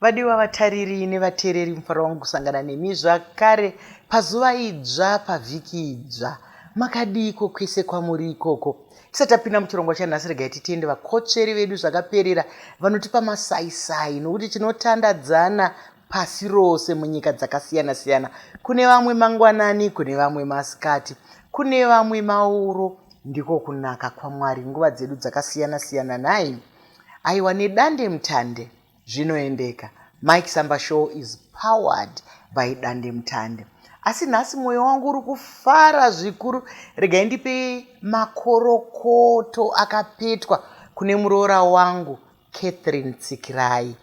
Vadiwa vatariri nevateereri mufaro wangu kusangana nemi zvakare pazuva idzva pavhiki idzva. Makadiiko kwese kwamuri ikoko? Tisati tapinda muchirongwa chanhasi regai titende vakotsveri vedu zvakaperera vanotipa masaisai nokuti tinotandadzana pasi rose munyika dzakasiyana-siyana. Kune vamwe mangwanani, kune vamwe masikati, kune vamwe mauro. Ndiko kunaka kwaMwari nguva dzedu dzakasiyana-siyana nhai? Aiwa nedande mutande. Zvinoendeka. Mike Samba Show is powered by Dandemutande. Asi nhasi moyo wangu uri kufara zvikuru. Regai ndipe makorokoto akapetwa kune muroora wangu Catherine Tsikirai.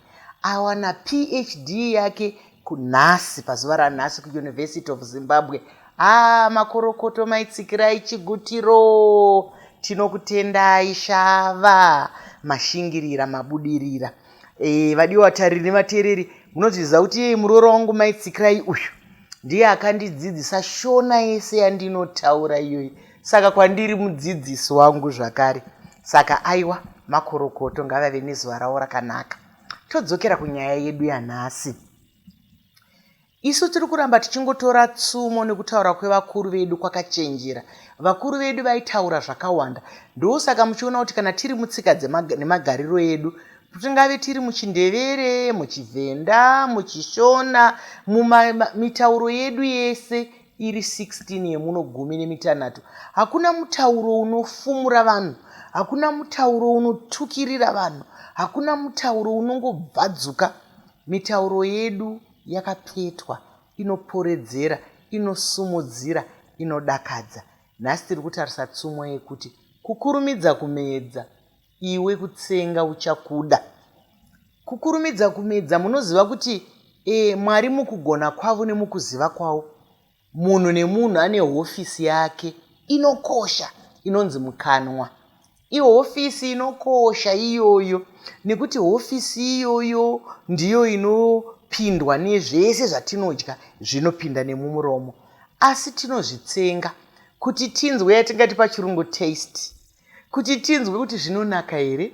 Awana PhD yake kunhasi pazuva ranhasi kuuniversity of zimbabwe haa ah, makorokoto maitsikirai chigutiro tinokutendai shava mashingirira mabudirira e, vadiwa vatariri nevateereri munozviziva kuti yei muroora wangu maitsikirai uyu ndiye akandidzidzisa shona yese yandinotaura iyoyi saka kwandiri mudzidzisi wangu zvakare saka aiwa makorokoto ngavave nezuva ravo rakanaka Todzokera kunyaya yedu yanhasi. Isu tiri kuramba tichingotora tsumo nekutaura kwevakuru vedu kwakachenjera. Vakuru vedu vaitaura zvakawanda. Ndosaka muchiona kuti kana tiri mutsika nemagariro edu, tingave tiri muchindevere, muchivhenda, muchishona, mumitauro yedu yese, iri 16 yemuno gumi nemitanhatu, hakuna mutauro unofumura vanhu, hakuna mutauro unotukirira vanhu, hakuna mutauro unongobvadzuka. Mitauro yedu yakapetwa, inoporedzera, inosumudzira, inodakadza. Nhasi tiri kutarisa tsumo yekuti, Kukurumidza Kumeedza. Iwe kutsenga uchakuda. Kukurumidza kumedza munoziva kuti e, Mwari mukugona kwavo nemukuziva kwavo. Munhu nemunhu ane hofisi yake inokosha inonzi mukanwa. Ihofisi inokosha iyoyo nekuti hofisi iyoyo ndiyo inopindwa nezvese zvatinodya zvinopinda nemumuromo. Asi tinozvitsenga kuti tinzwe yatingati pachirungu taste. kuti tinzwe kuti zvinonaka here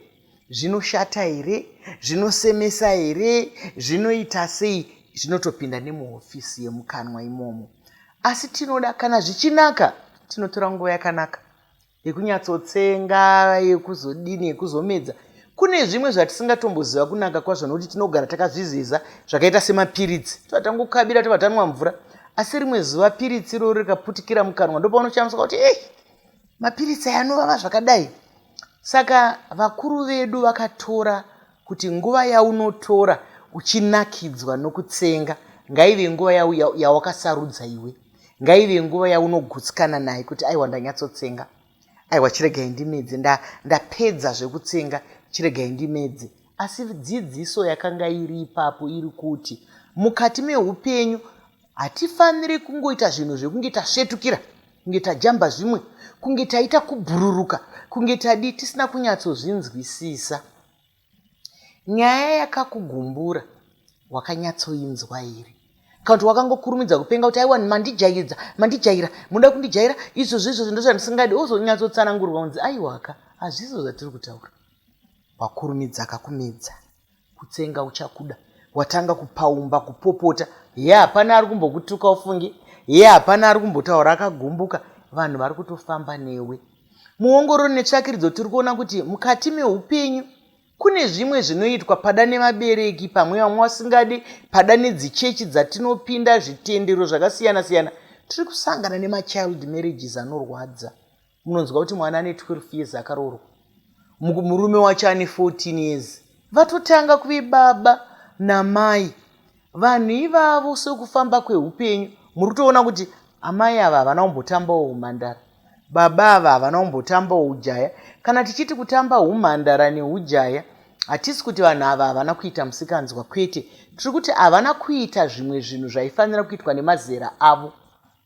zvinoshata here zvinosemesa here zvinoita sei zvinotopinda nemuhofisi yemukanwa imomo asi tinoda kana zvichinaka tinotora nguva yakanaka yekunyatsotsenga yekuzodini yekuzomedza kune zvimwe zvatisingatomboziva kunaka kwazvo nokuti tinogara takazviziza zvakaita semapiritsi tova tangokabira tova tanwa mvura asi rimwe zuva piritsi iroro rikaputikira mukanwa ndopaunochamisa kuti ei mapiritsi aya anovava zvakadai saka vakuru vedu vakatora kuti nguva yaunotora uchinakidzwa nokutsenga ngaive nguva yawakasarudza iwe ngaive nguva yaunogutsikana naye kuti aiwa ndanyatsotsenga aiwa chiregai ndimedze ndapedza nda zvekutsenga chiregai ndimedze asi dzidziso yakanga iri ipapo iri kuti mukati meupenyu Hatifaniri kungoita zvinhu zvekunge tasvetukira, kunge tajamba zvimwe, kunge taita kubhururuka, kunge tadii tisina kunyatsozvinzwisisa. Nyaya yakakugumbura wakanyatsoinzwa here? Kana kuti wakangokurumidza kupenga kuti aiwa mandijaidza, mandijaira, munoda kundijaira izvozvo izvozvo ndozvandisingadi, wozonyatsotsanangurwa kunzi aiwaka, hazvizo zvatiri kutaura. Wakurumidza akakumedza. kutsenga uchakuda watanga kupaumba kupopota ye hapana ari kumbokutuka ufungi ye hapana ari kumbotaura akagumbuka vanhu vari kutofamba newe muongororo netsvakiridzo tiri kuona kuti mukati meupenyu kune zvimwe zvinoitwa pada nevabereki pamwe vamwe vasingadi pada nedzichechi dzatinopinda zvitendero zvakasiyana siyana tiri kusangana nemachild marriages anorwadza munonzwa kuti mwana ane 12 years akaroorwa murume wacho ane 14 years vatotanga kuve baba namai vanhu ivavo sekufamba kweupenyu muri kutoona kuti amai ava havana kumbotambawo humhandara baba ava havana kumbotambawo ujaya kana tichiti kutamba humhandara neujaya hatisi kuti vanhu ava havana kuita musikanzwa kwete tiri kuti havana kuita zvimwe zvinhu zvaifanira kuitwa nemazera avo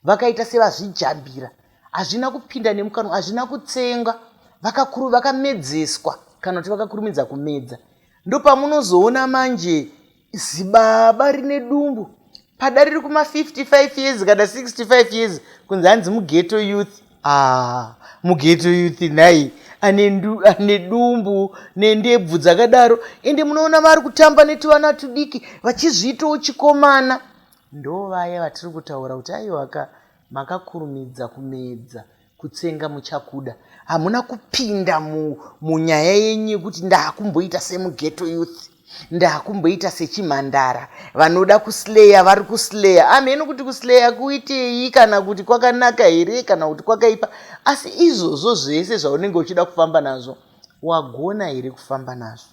vakaita sevazvijambira hazvina kupinda nemukanwa hazvina kutsenga vakakuru vakamedzeswa kana kuti vakakurumidza kumedza ndopamunozoona manje zibaba rine dumbu pada riri kuma 55 years kana 65 years kunzi hanzi mugeto youth ah, mugeto youth nhai ane dumbu nendebvu dzakadaro ende munoona vari kutamba netivana tudiki vachizviitawo chikomana Ndovaya vatiri kutaura kuti aiwaka makakurumidza kumedza kutsenga muchakuda hamuna kupinda munyaya yenyu yekuti ndakumboita semugeto youth ndakumboita sechimhandara vanoda kusleya vari kusleya amheno kuti kusleya kuitei kana kuti kwakanaka here kana kuti kwakaipa asi izvozvo zvese zvaunenge uchida kufamba nazvo wagona here kufamba nazvo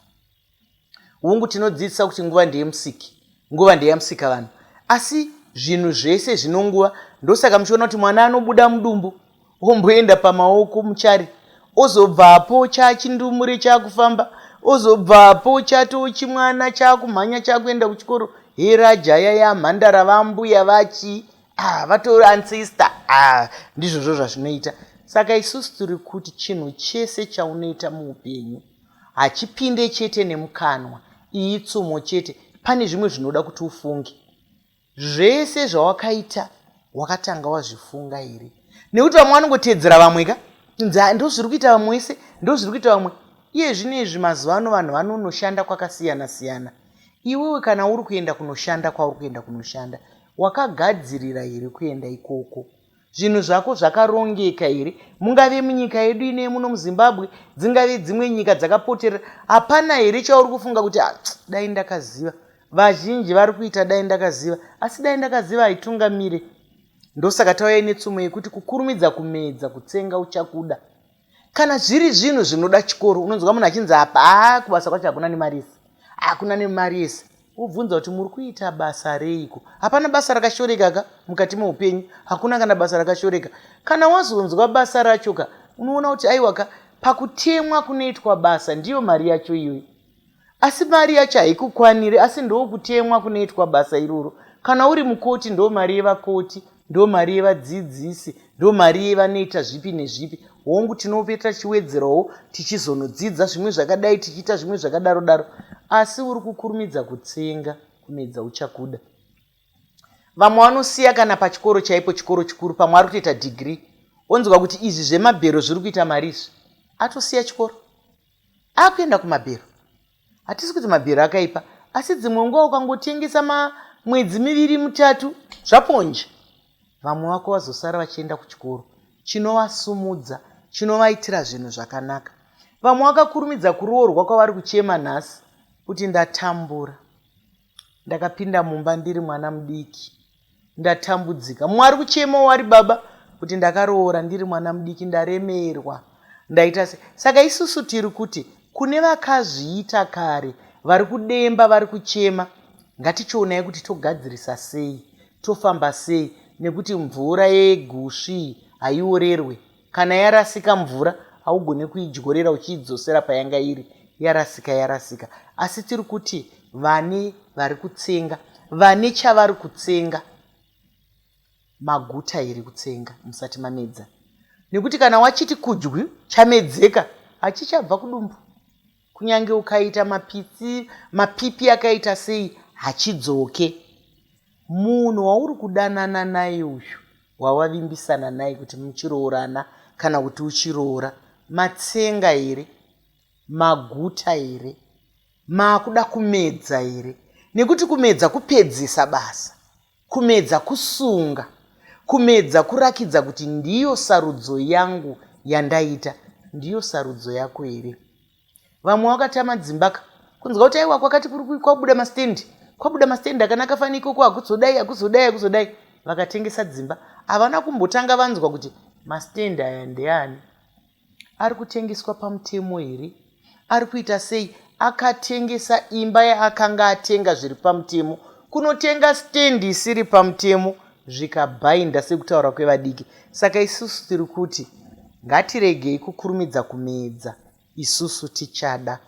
hungu tinodzidzisa kuti nguva ndeyemusiki nguva ndeyamusika vanhu asi zvinhu zvese zvinonguva ndosaka muchiona kuti mwana anobuda mudumbu omboenda pamaoko muchari ozobvapo chachindumure chakufamba ozobvapo chatoo chimwana chakumhanya chakuenda kuchikoro herajaya yamhandara vambuya vachii ah, vatori ancestor ah, ndizvozvo zvazvinoita saka isusu tiri kuti chinhu chese chaunoita muupenyu Hachipinde chete nemukanwa, iyi tsumo chete, pane zvimwe zvinoda kuti ufunge. Zvese zvawakaita wakatanga wazvifunga here? Nekuti vamwe vanongoteedzera vamwe ka, kunzi ah, ndozviri kuita vamwe wese, ndozviri kuita vamwe. Iye zvino izvi mazuva ano vanhu vanonoshanda kwakasiyana siyana. Iwewe kana uri kuenda kunoshanda kwauri kuenda kunoshanda, wakagadzirira here kuenda ikoko? Zvinhu zvako zvakarongeka here? Mungave munyika yedu ino yemuno muZimbabwe, dzingave dzimwe nyika dzakapoterera, hapana here chauri kufunga kuti ah, dai ndakaziva? Vazhinji vari kuita dai ndakaziva, asi dai ndakaziva haitungamire. Ndosaka tauya netsumo yekuti kukurumidza kumedza kutsenga uchakuda. Kana zviri zvinhu zvinoda chikoro unonzwa munhu achinzi apa haa kubasa kwacho hakuna nemari yese hakuna nemari yese wobvunza kuti muri kuita basa reiko hapana basa rakashoreka ka mukati meupenyu hakuna kana basa rakashoreka kana wazonzwa basa racho ka unoona kuti aiwa ka pakutemwa kunoitwa basa ndiyo mari yacho iyoyo asi mari yacho haikukwaniri asi ndookutemwa kunoitwa basa iroro kana uri mukoti ndo mari yevakoti ndo mari yevadzidzisi ndo mari yevanoita zvipi nezvipi hongu tinope tachiwedzerawo tichizonodzidza zvimwe zvakadai tichiita zvimwe zvakadaro daro asi uri kukurumidza kutsenga kumedza uchakuda vamwe vanosiya kana pachikoro chaipo chikoro chikuru pamwe ari kutoita dhigiri onzwa kuti izvi zvemabhero zviri kuita mari izvi atosiya chikoro akuenda kumabhero hatisi kuti mabhero akaipa asi dzimwe nguva ukangotengesa mamwedzi miviri mutatu zvaponje vamwe vako vazosara vachienda kuchikoro chinovasumudza chinovaitira zvinhu zvakanaka vamwe vakakurumidza kuroorwa kwavari kuchema nhasi kuti ndatambura ndakapinda mumba ndiri mwana mudiki Ndatambudzika. Mumwe ari kuchemawo ari baba kuti ndakaroora ndiri mwana mudiki ndaremerwa. Ndaita se. Saka isusu tiri kuti kune vakazviita kare vari kudemba vari kuchema ngatichionai kuti togadzirisa sei tofamba sei nekuti mvura yegusvi iyi haiorerwe Kana yarasika mvura haugone kuidyorera uchiidzosera payanga iri yarasika yarasika asi tiri kuti vane vari kutsenga vane chavari kutsenga maguta here kutsenga musati mamedza nekuti kana wachiti kudyu chamedzeka hachichabva kudumbu Kunyange ukaita mapitsi, mapipi akaita sei hachidzoke. Munhu wauri kudanana naye uyu wawavimbisana naye kuti muchiroorana kana kuti uchiroora matsenga here, maguta here, maakuda kumedza here nekuti kumedza kupedzisa basa. Kumedza kusunga, kumedza kurakidza kuti ndiyo sarudzo yangu yandaita, ndiyo sarudzo yako here? Vamwe wakatama dzimba ka, kunzwa kuti aiwa kwakati kuri kwabuda mastendi, kwabuda mastendi akanaka fani ikoko hakuzodai, hakuzodai, hakuzodai. Vakatengesa dzimba, havana kumbotanga vanzwa kuti mastendi aya ndeani. Ari kutengeswa pamutemo here? Ari kuita sei? Akatengesa imba yaakanga atenga zviri pamutemo. Kunotenga stand isiri pamutemo zvikabhainda sekutaura kwevadiki. Saka isusu tiri kuti ngatiregei kukurumidza kumedza. Isusu tichada.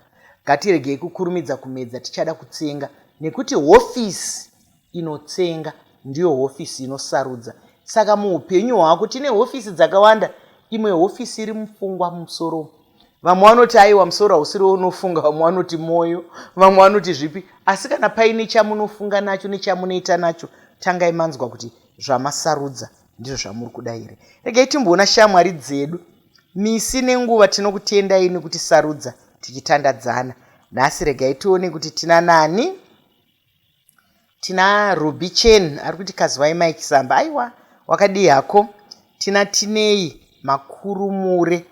Ngatiregei kukurumidza kumedza tichada kutsenga nekuti hofisi inotsenga ndiyo hofisi inosarudza. Saka muupenyu hwako tine hofisi dzakawanda, imwe hofisi iri mupfungwa mumusoro umu. Vamwe vanoti aiwa musoro hausiri weunofunga, vamwe vanoti mwoyo, vamwe vanoti zvipi. Asi kana paine chamunofunga nacho nechamunoita nacho, tangai manzwa kuti zvamasarudza ndizvo zvamuri kuda here. Regai timboona shamwari dzedu. Misi nenguva tinokutendai nekuti sarudza tichitandadzana. Nhasi regai tione kuti tina nani? Tina Ruby Chen ari kuti Kazivai Mike Zamba. Aiwa, wakadii hako? Tina Tinei Makurumure.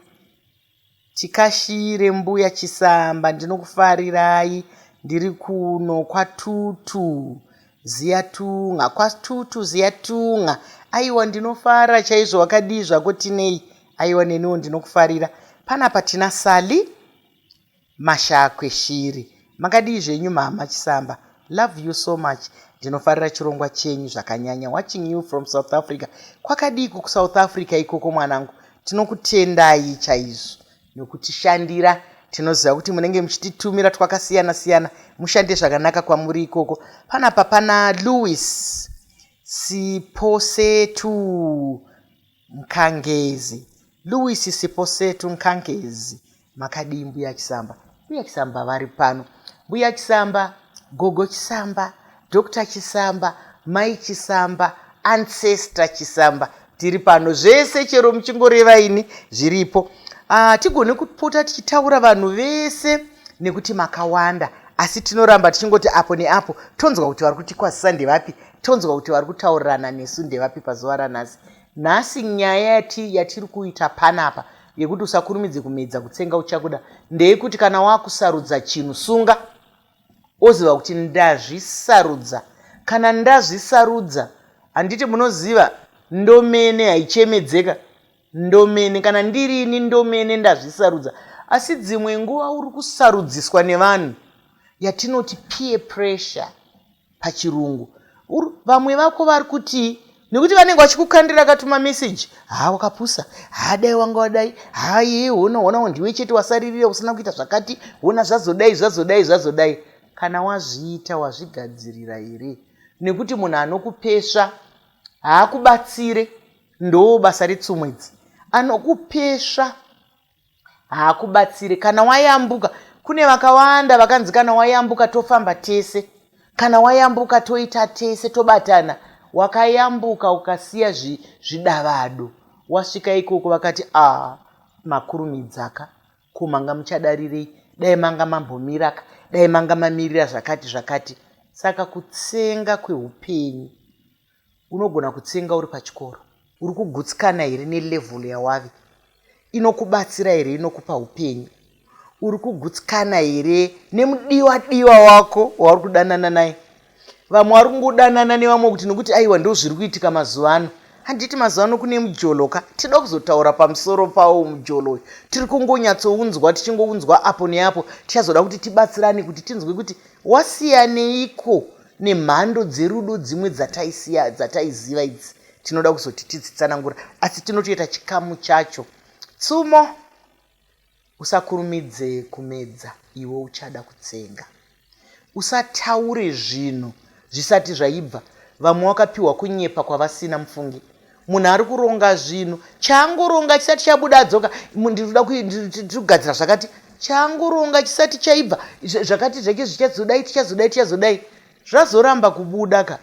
Tikashire mbuya Chisamba ndinokufarirai ndiri kuno kwatutu ziyatunga kwatutu ziyatunga aiwa ndinofara chaizvo wakadii zvako tinei aiwa neniwo ndinokufarira panapa tina sali Mashakwe shiri makadii zvenyu mhamha chisamba love you so much ndinofarira chirongwa chenyu zvakanyanya watching you from south africa kwakadiiko kusouth africa ikoko mwanangu tinokutendai chaizvo nokutishandira tinoziva kuti munenge muchititumira twakasiyana siyana mushande zvakanaka kwamuri ikoko panapa pana louis siposetu Nkangezi. Louis Siposetu Nkangezi makadii mbuya Chisamba? Mbuya Chisamba vari pano. Mbuya Chisamba, Gogo Chisamba, Doctor Chisamba, Mai Chisamba, Ancestor Chisamba tiri pano zvese chero muchingoreva ini zviripo ah, tigone kupota tichitaura vanhu vese nekuti makawanda asi tinoramba tichingoti apo neapo tonzwa kuti vari kutikwazisa ndevapi tonzwa kuti vari kutaurirana nesu ndevapi pazuva ranhasi Nhasi nyaya yati yatiri kuita panapa yekuti usakurumidze kumedza kutsenga uchakuda ndeyekuti kana wakusarudza chinhu sunga oziva kuti ndazvisarudza kana ndazvisarudza handiti munoziva ndomene haichemedzeka ndomene kana ndirini ndomene ndazvisarudza asi dzimwe nguva uri kusarudziswa nevanhu yatinoti peer pressure pachirungu vamwe vako vari kutii nekuti vanenge vachikukandira katuma meseji haa wakapusa haa dai wanga wadai haa yee hona hona ndiwe chete wasaririra usina kuita zvakati hona zvazodai zvazodai zvazodai kana wazviita wazvigadzirira here nekuti munhu anokupesva haakubatsire ndoo basa retsumwedzi anokupesva haakubatsire kana wayambuka kune vakawanda vakanzi kana wayambuka tofamba tese kana wayambuka toita tese tobatana wakayambuka ukasiya zvidavado wasvika ikoko vakati ah makurumidzaka ko manga muchadarirei dai manga mambomiraka dai manga mamirira zvakati zvakati saka kutsenga kweupenyu unogona kutsenga uri pachikoro uri kugutsikana here nelevel yawave inokubatsira here inokupa upenyu uri kugutsikana here nemudiwa diwa wako wauri kudanana naye vamwe vari kungodanana nevamwe kuti nokuti aiwa ndo zviri kuitika mazuva ano handiti mazuva ano kune mujolo ka tinoda kuzotaura pamusoro pawo mujolo uyu tiri kungonyatsounzwa tichingounzwa apo neapo tichazoda kuti tibatsirane kuti tinzwe kuti wasiyaneiko nemhando dzerudo dzimwe dzataisiya dzataiziva idzi tinoda kuzoti tidzitsanangura asi tinotoita chikamu chacho tsumo usakurumidze kumedza iwe uchada kutsenga usataure zvinhu zvisati zvaibva vamwe wakapiwa kunyepa kwavasina mufungi munhu ari kuronga zvinhu chaangoronga chisati chabuda adzoka ndinoda kugadzira zvakati chaangoronga chisati chaibva zvakati zvake zvichazodai tichazodai tichazodai zvazoramba kubuda ka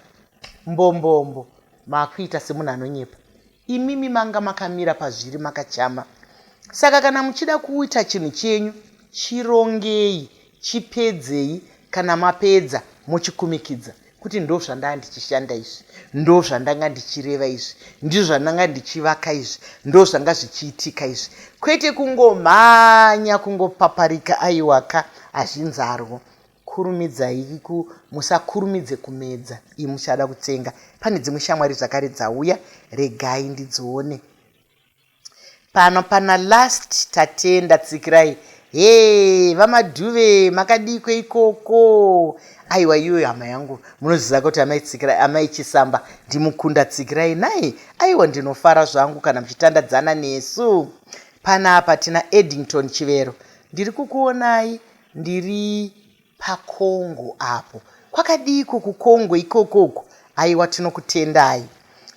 mbombombo maakuita semunhu anonyepa imimi manga makamira pazviri makachama saka kana muchida kuita chinhu chenyu chirongei chipedzei kana mapedza mochikumikidza kuti ndo zvandanga ndichishanda izvi ndo zvandanga ndichireva izvi ndizvo zvandanga ndichivaka izvi ndo zvanga zvichiitika izvi kwete kungomhanya kungopaparika aiwaka hazvinzarwo kurumidzai ku musakurumidze kumedza iyi muchada kutsenga pane dzimwe shamwari zvakare dzauya regai ndidzione Pano pana last Tatenda tsikirai hee vaMadhuve makadiiko ikoko aiwa iyoyo hama yangu munoziva kuti amai Tsikirai amai Chisamba ndimukunda tsikirai nhai aiwa ndinofara zvangu kana muchitandadzana nesu panapa tina Eddington Chivero ndiri kukuonai ndiri paCongo apo. Kwakadiiko kuCongo ikoko uko? Aiwa tinokutendai.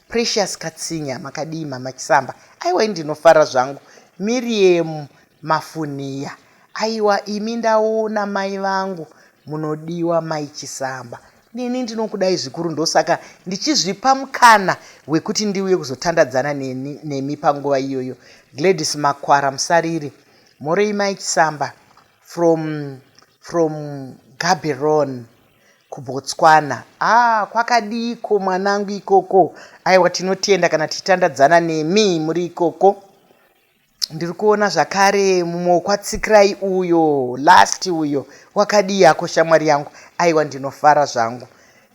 Precious Katsinya makadii mama Chisamba? Aiwa ini ndinofara zvangu. Miriam Mafunhiya aiwa imi ndaona mai vangu munodiwa mai Chisamba. Neni ndinokudai zvikuru ndosaka ndichizvipa mukana wekuti ndiuye kuzotandadzana neni, nemi panguva iyoyo. Gladys Makwara Musariri. Mhorei mai Chisamba? From from Gaborone kuBotswana haa kwakadiiko mwanangu ikoko aiwa tinotenda kana tichitandadzana nemi muri ikoko ndiri kuona zvakare mumwe wekwatsikirai uyo last uyo wakadii ako shamwari yangu aiwa ndinofara zvangu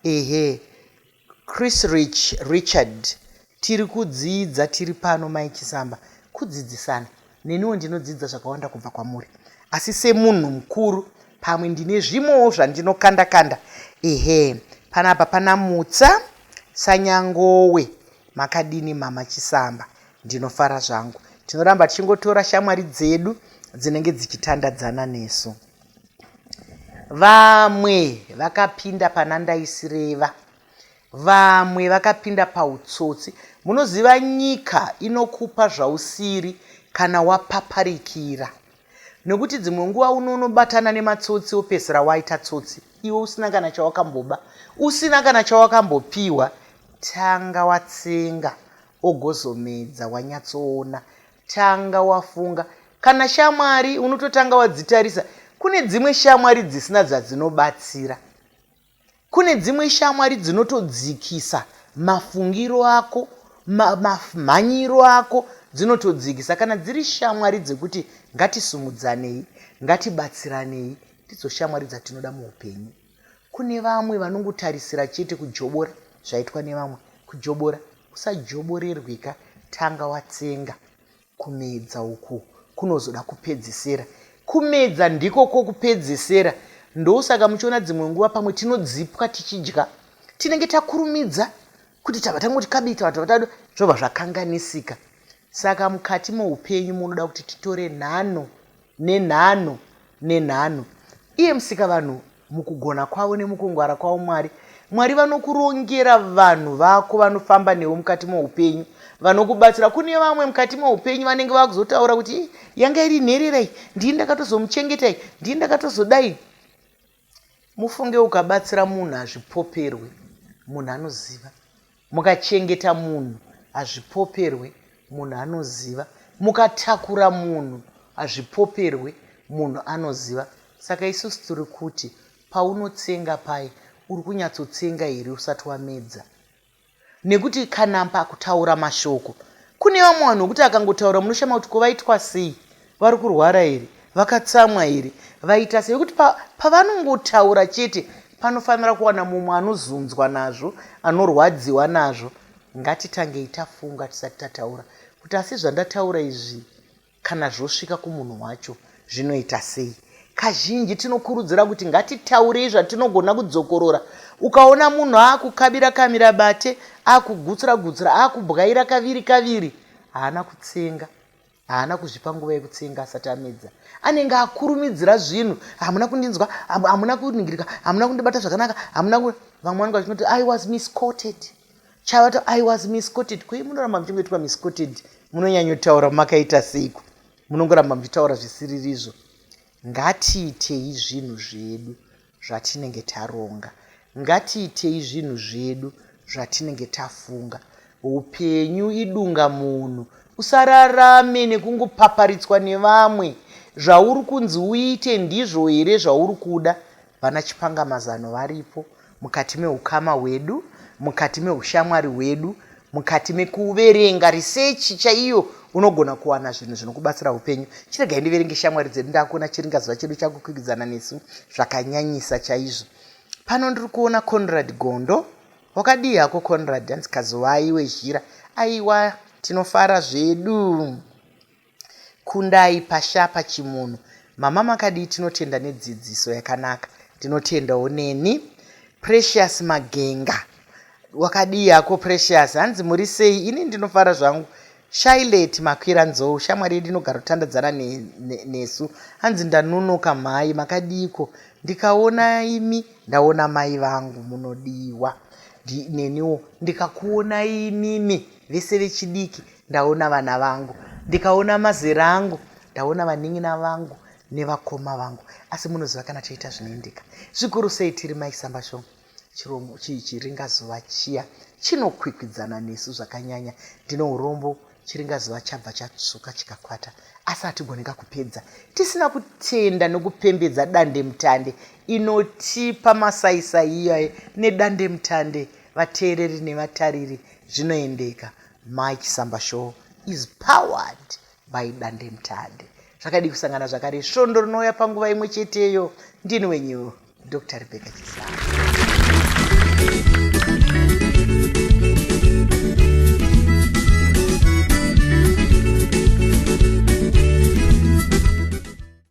ehe Chris Rich Richard Tiri kudzidza tiri pano Mai Chisamba kudzidzisana. Neniwo ndinodzidza zvakawanda kubva kwamuri. Asi semunhu mukuru pamwe ndine zvimwewo zvandinokanda kanda. Ehe, panapa pana Mutsa Sanyangowe. Makadini mama Chisamba? Ndinofara zvangu. Tinoramba tichingotora shamwari dzedu dzinenge dzichitandadzana nesu. Vamwe vakapinda pana ndaisireva. Vamwe vakapinda pautsotsi. Munoziva nyika inokupa zvausiri kana wapaparikira. Nokuti dzimwe nguva unonobatana nematsotsi wopedzisira waita tsotsi iwe usina kana chawakamboba, usina kana chawakambopiwa. Tanga watsenga ogozomedza wanyatsoona Tanga wafunga. Kana shamwari unototanga wadzitarisa. Kune dzimwe shamwari dzisina zvadzinobatsira. Kune dzimwe shamwari dzinotodzikisa mafungiro ako, manyiro ako dzinotodzikisa. Kana dziri shamwari dzekuti ngatisumudzanei, ngatibatsiranei, ndidzo shamwari dzatinoda muupenyu. Kune vamwe vanongotarisira chete kujobora zvaitwa nevamwe. Kujobora kusajoborerwika tanga watsenga. Kumedza uku kunozoda kupedzesera. Kumedza ndiko kokupedzesera. Ndosaka muchiona dzimwe nguva pamwe tinodzipwa tichidya. Tinenge takurumidza kuti tava tangoti kabi tava tava tado zvobva zvakanganisika. Saka mukati moupenyu munoda kuti titore nhano Nenhano, nenhano. Iye Musikavanhu, mukugona kwavo nemukungwara kwavo Mwari, Mwari vanokurongera vanhu vako vanofamba newe mukati moupenyu, vanokubatsira. Kune vamwe mukati moupenyu vanenge vakuzotaura kuti, Ii, yanga iri nherera iyi, ndini ndakatozomuchengeta iyi, ndini ndakatozodai. Mufunge ukabatsira munhu hazvipoperwe munhu anoziva. Mukachengeta munhu hazvipoperwe munhu anoziva. Mukatakura munhu hazvipoperwe munhu anoziva. Saka isusu tiri kuti paunotsenga paye uri kunyatsotsenga here usati wamedza. Nekuti kana pakutaura mashoko kune vamwe vanhu vokuti akangotaura munoshama kuti ko vaitwa sei, vari kurwara here, vakatsamwa here, vaita sei vekuti pa, pavanongotaura chete panofanira kuwana mumwe anozunzwa nazvo, anorwadziwa nazvo. Ngatitangei tafunga tisati tataura kuti asi zvandataura izvi Kana zvosvika kumunhu wacho, zvinoita sei? Kazhinji tinokurudzira kuti ngatitaurei zvatinogona kudzokorora. Ukaona munhu akukabira kamira bate, akugutsura gutsura, akubwaira kaviri kaviri, haana kutsenga. Haana kuzvipa nguva yekutsenga asati amedza. Anenge akurumidzira zvinhu, hamuna kundinzwa, hamuna kuningirika, hamuna kundibata zvakanaka, hamuna ku... Vamwe vanenge vachinoti I was misquoted. chavato i was misquoted koi munoramba muchingoitwa misquoted munonyanyotaura makaita seiko munongoramba muchitaura zvisiririzvo ngatiitei zvinhu zvedu zvatinenge taronga ngatiitei zvinhu zvedu zvatinenge tafunga upenyu idunga munhu usararame nekungopaparitswa nevamwe zvauri kunzi uite ndizvo here zvauri kuda Vana Chipangamazano varipo mukati mehukama hwedu, mukati mehushamwari hwedu, mukati mekuverenga research chaiyo unogona kuwana zvinhu zvinokubatsira upenyu. Chiregai ndiverenge shamwari dzedu ndakuona chiringazuva chedu chakukwikwidzana nesu zvakanyanyisa chaizvo. Pano ndiri kuona Conrad Gondo. Wakadii hako Conrad? Hanzi Kazuvai wezhira. Aiwa, tinofara zvedu. Kundai pasha pachimunhu. Mama makadii tinotenda nedzidziso yakanaka ndinotendawo neni Precious Magenga wakadii hako Precious hanzi muri sei ini ndinofara zvangu Shailet makwira nzou shamwari yedu inogara kutandadzana nesu hanzi ndanonoka mhai makadiiko ndikaona imi ndaona mai vangu munodiwa neniwo ndikakuona inini vese vechidiki ndaona vana vangu ndikaona mazera angu ndaona vanin'ina vangu nevakoma vangu asi munoziva kana toita zvinoendeka zvikuru sei tiri maisambashoma chiromo chii chiringazuva chiya chinokwikwidzana nesu zvakanyanya ndine urombo chiringazuva chabva chatsvuka chikakwata asi hatigoneka kupedza tisina kutenda nokupembedza dandemutande inotipa masaisai iyaye nedandemutande vateereri nevatariri zvinoendeka Mai Chisamba show is powered by Dandemutande. Zvakadii kusangana zvakare svondo rinouya panguva imwe cheteyo. Ndini wenyu Dr. Rebecca Chisamba.